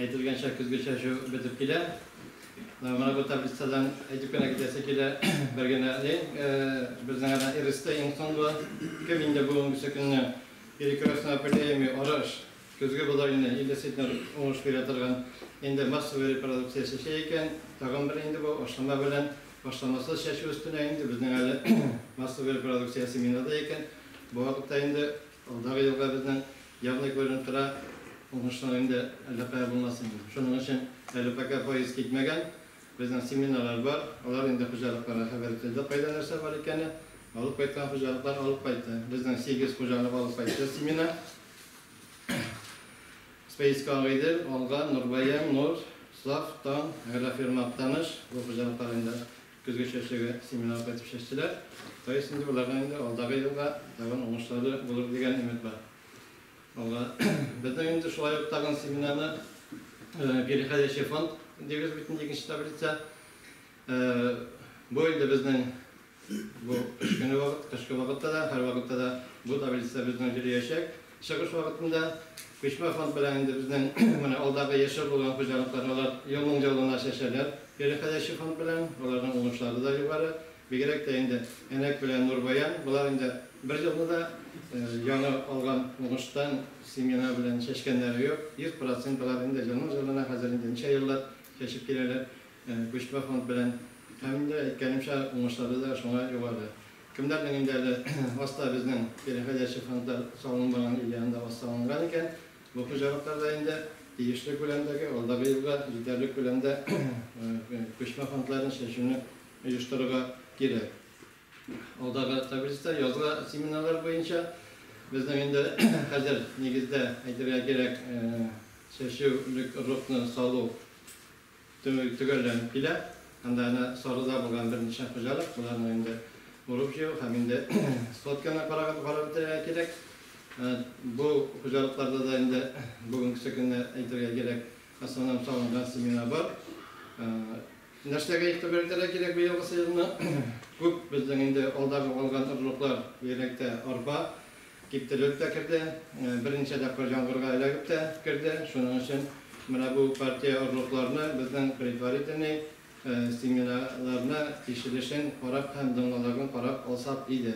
Әйтелгәнчә, көзге чәчү бетеп килә. Менә бу таблицадан әйтеп кенә китәсе килә, бер генә лень, безнең әнә РСТ иң соңгы. Кем инде бүгенгесе көнне перекрестный опыляемый арыш, көзге бодайны, ил дәситнер уңыш бирә торган, инде массовый репродукция чәчә икән, тагын бер инде бу ашлама белән ашламасыз чәчү өстенә инде безнең әле массовый репродукция семена да икән, бу вакытта инде Алдагы елга безнең явный күренеп тора, уңышлар инде әллә кая булмасын инде. Шуның өчен әле пока поезд китмәгән, безнең семинарлар бар, алар инде хуҗалыкларга хәбәр ителде, кайда нәрсә бар икәне, алып кайткан хуҗалыклар алып кайтты. Безнең сигез хуҗалык алып кайтты семинар. Спейска Агыйдел, Алга, Нурбаян, Нур, Саф, Таң, Агрофирма Актаныш, бу хуҗалыклар инде Көзге чәчәге семинарда итеп чәчтеләр. Фаиз инде боларга инде алдагы елга тагын уңышлары булыр дигән өмет бар. Алга безнең инде шулай ук тагын семинарны переходящий фонд дибез бит инде икенче таблица. Бу инде безнең бу кыш көне вакыт, кышкы вакытта да, һәрвакытта да бу таблица безнең йөриячәк. Чыгыш вакытында күчмә фонд белән инде безнең менә алдагы яшәү булган хуҗалыкларны алар елның ялына чәчәләр. Кире хәләче фонд белән аларның уңышлары да югары. Бигрәк тә инде Әнәк белән Нурбаян, болар инде бер елны да яңа алган уңыштан семена белән чәчкәннәре юк. 100 процент алар инде елның ялына хәзер инде ничә еллар чәчеп киләләр күчмә фонд белән. Һәм инде әйткәнемчә, уңышлары да шуңа югары. Кемнәрнең инде әле аста безнең переходящий фронтлар салынмаган или анда аз салынган икән, бу хуҗалыклар да инде тиешле күләмдәге, алдагы елга җитәрлек күләмдә күчмә фронтларын чәчүне оештырырга кирәк. Алдагы таблицида язгы семеннар буенча безнең инде хәзер нигездә әйтергә кирәк чәчүлек рокны салу, Төнге төгәлләнеп килә. Анда әнә Сарыда булган берничә хуҗалык, боларның инде урып-җыю һәм инде сходканы караган карап бетерергә кирәк. Бу хуҗалыкларда да инде бүгенгесе көнне әйтергә кирәк, основном салынган семена бар. Нәрсәгә игътибар итәргә кирәк быелгы сезонны? Күп безнең инде алдагы алган орлыклар, бигрәк тә арпа, Киптерелеп тә керде, берничә тапкыр җангырга эләгеп тә керде. Шуның өчен менә бу партия орлыкларны безнең предварительный семьяларны тикшеришен карап һәм домноларны карап алсак иде.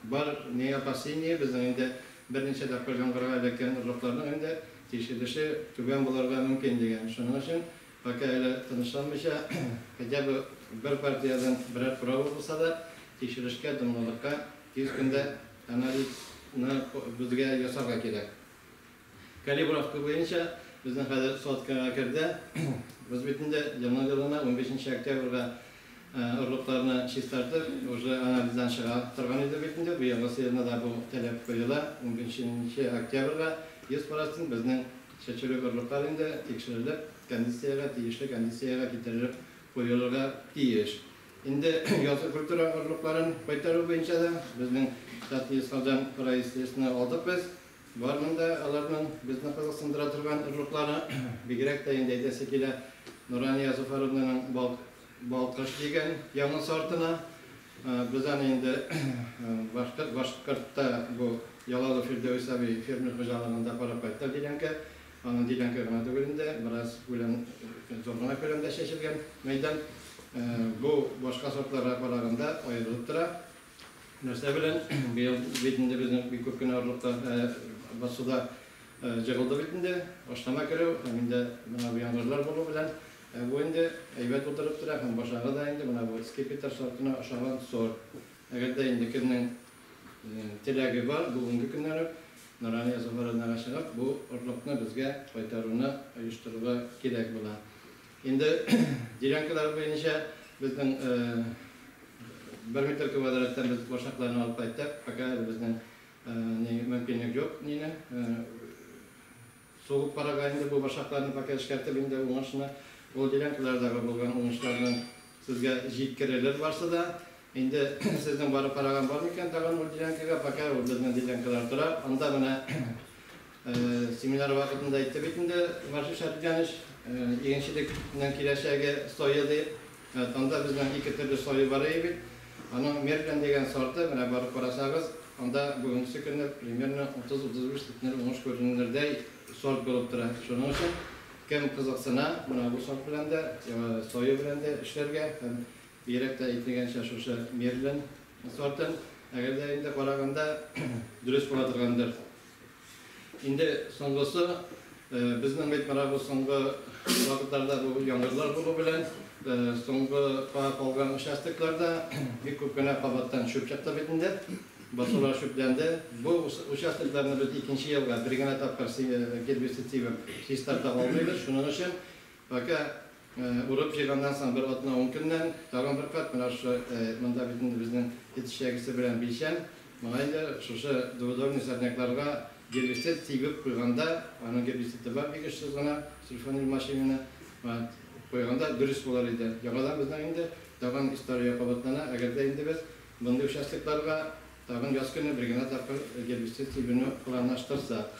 Бар не опасение, безнең инде берничә тапкыр җангырга эләккән орлыкларның инде тикшереше түбән булырга мөмкин дигән. Шуның өчен пока әле тынычланмыйча, хотя бы бер партиядән берәр права булса да, тикшерешкә, домнолыкка тиз көндә Анализны безгә ясарга кирәк. Калибровка буенча безнең хәзер сотикага керде. Боз битендә елны-елына унбиш нче октябрьгә орлыкларны чистартып, уже анализдан чыга торган иде бит инде. Быелгы сыерны да бу таләп куела, унбиш нче октябрьгә 100 процент безнең чәчүлек орлыклар инде тикшерелеп, кондициягә, тиешле кондициягә китерелеп куелырга тиеш. Инде язгы культура орлыкларын кайтару буенча да безнең Татньюслардан происшествиене алдык без. Бар монда аларның безне кызыксындыра торган орлыклары. Бигрәк тә инде әйтәсе килә Нурания Зуфаровнаның Балк Балкыш дигән яңа сортына. Без аны инде Башкортта бу Ялалы Фирдәвес абый фермер хуҗалыгында карап кайттык дигәнкә, Аның диләнке гына түгел инде, бераз күләм, зур гына күләмдә чәчелгән мәйдан. Бу башка сортларга караганда аерылып тора. Нәрсә белән? Быел бит инде безнең бик күп кенә орлыкта басу да җыгылды бит инде. Ашлама керү һәм инде менә бу яңгырлар булу белән бу инде әйбәт утырып тора һәм башагы да инде менә бу скипетр сортына ошаган сорт. Әгәр дә инде кемнең Теләге бар, бүгенге көннән үк Нурания Зуһуровнага чыгып, бу орлыкны безгә кайтаруны оештырырга кирәк була. Инде делянкалар буенча безнең бер метр квадраттан без башакларны алып кайттык, пока әле безнең мөмкинлек юк, нинең, Сугып карага инде бу башакларны пока эшкәртеп инде уңышны ул делянкалардагы булган уңышларны сезгә җиткерерлер барсы да. Инде сезнең барып караган бар микән тагын ул делянкага, пока ул безнең делянкалар тора. Анда менә семинар вакытында әйтте бит инде Ваши Шәрифҗаныч, игенчелекнең киләчәге сое дип. Анда безнең ике төрле саю бар иде бит. Аның Мерлин дигән сорты, менә барып карасагыз, анда бүгенге көнне примерно 30-35 центнер уңыш күренердәй сорт булып тора. Шуның өчен кем кызыксына, менә бу сорт белән дә, саю белән дә эшләргә һәм бигрәк тә әйтелгәнчә шушы Мерлин сортын, әгәр дә инде караганда дөрес була торгандыр. Инде соңгысы, безнең әйтмара бу соңгы вакытларда бу яңгырлар булу белән соңгы кара калган участокларда бик күп кенә кабаттан чүп чыкты бит инде. Басулар чүпләнде. Бу участокларны без икенче елга бер генә тапкыр гербицид сибеп чистартып алмыйбыз. Шуның өчен пока Урып-җыйганнан соң бер атна-ун көннән тагын бер кат менә шушы, монда бит инде безнең эт эчәгесе белән билчән, моңа инде шушы дубодорный сорнякларга гербицид сибеп куйганда, аның гербициды бар бик очсыз гына, сульфанил мочевина, куйганда дөрес булыр иде. Яңадан безнең инде тагын история кабатлана, әгәр дә инде без мондый участокларга тагын яз көне бер генә тапкыр гербицид сибүне планлаштырсак.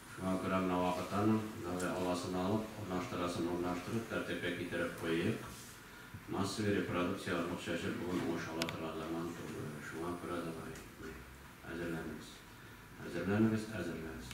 Шуңа күрә менә вакыт аның, давай аласын алып, урнаштырасын урнаштырып, тәртипкә китереп куйыйк. Массовый репродукция орлык чәчеп бүген уңыш ала торган заман түгел. Шуңа күрә давай, әзерләнегез. Әзерләнегез, әзерләнс.